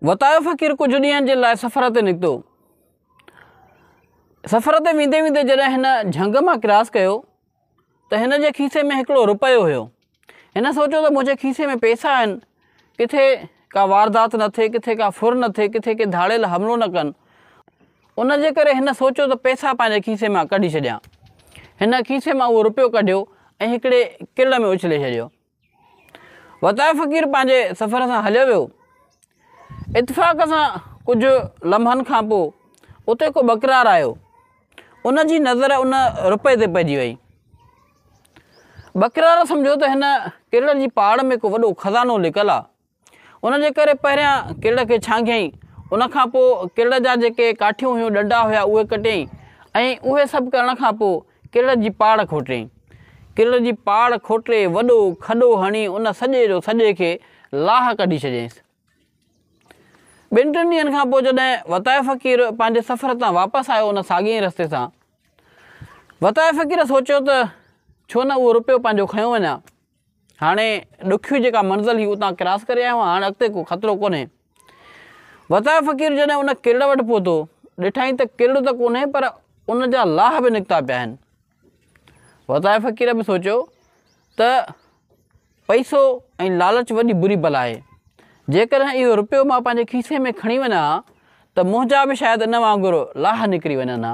وتايو فقير ڪجهه ڏينهن جي لاء سفر تي نڪتو. سفر تي ويندي ويندي جڏهن هن جهنگ مان ڪراس ڪيو ته هن جي کيسي ۾ هڪڙو روپيو هيو. هن سوچيو ته منهنجي کيسي ۾ پئسا آهن، ڪٿي ڪا واردات نه ٿئي، ڪٿي ڪا ڦر نه ٿئي، ڪٿي ڪي ڌاڙيل حملو نه ڪن. ان جي ڪري هن سوچيو ته پئسا پنهنجي کيسي مان ڪڍي ڇڏيان. هن کيسي مان اهو روپيو ڪڍيو ۽ هڪڙي ڪل ۾ اڇلي ڇڏيو. وتايو فقير پنهنجي سفر سان هليو ويو. اتفاق سان ڪجهه لمحن کان پوء اتي ڪو ٻڪرار آيو. ان جي نظر ان روپئي تي پئجي وئي. ٻڪرار سمجهيو ته هن ڪرڙ جي پاڙ ۾ ڪو وڏو خزانو لڪل آ. ان جي ڪري پهريان ڪرڙ کي ڇانگهيائين، ان کان پوء ڪرڙ جا جيڪي ڪاٺيون هيون، ڏنڊا هيا، اهي ڪٽيائين ۽ اهي سڀ ڪرڻ کان پوء ڪرڙ جي پاڙ کوٽيائين. ڪرڙ جي پاڙ کوٽي وڏو کڏو هڻي ان سڄي جو سڄي کي لاهه ڪڍي ڇڏيائينس. ٻن ٽن ڏينهن کان پوء جڏهن وتائي فقير پنهنجي سفر تان واپس آيو ان ساڳئي ئي رستي سان، وتائي فقير سوچيو ته ڇو نه اهو رپيو پنهنجو کنيو وڃان. هاڻي ڏکيون جيڪا منزل هئي اتان ڪراس ڪري آيا هئا هاڻي اڳتي ڪو خطرو ڪونهي. وتايو فقير جڏهن ان ڪرڙ وٽ پهتو ڏٺائين ته ڪرڙ ته ڪونهي پر ان جا لاهه به نڪتا پيا آهن. وتايو فقير به سوچيو ته پئسو ۽ لالچ وڏي بري بلا آهي. جيڪڏهن اهو رپيو مان پنهنجي کيسي ۾ کڻي وڃان ها ته منهنجا به شايد ان وانگر لاهه نڪري وڃن ها.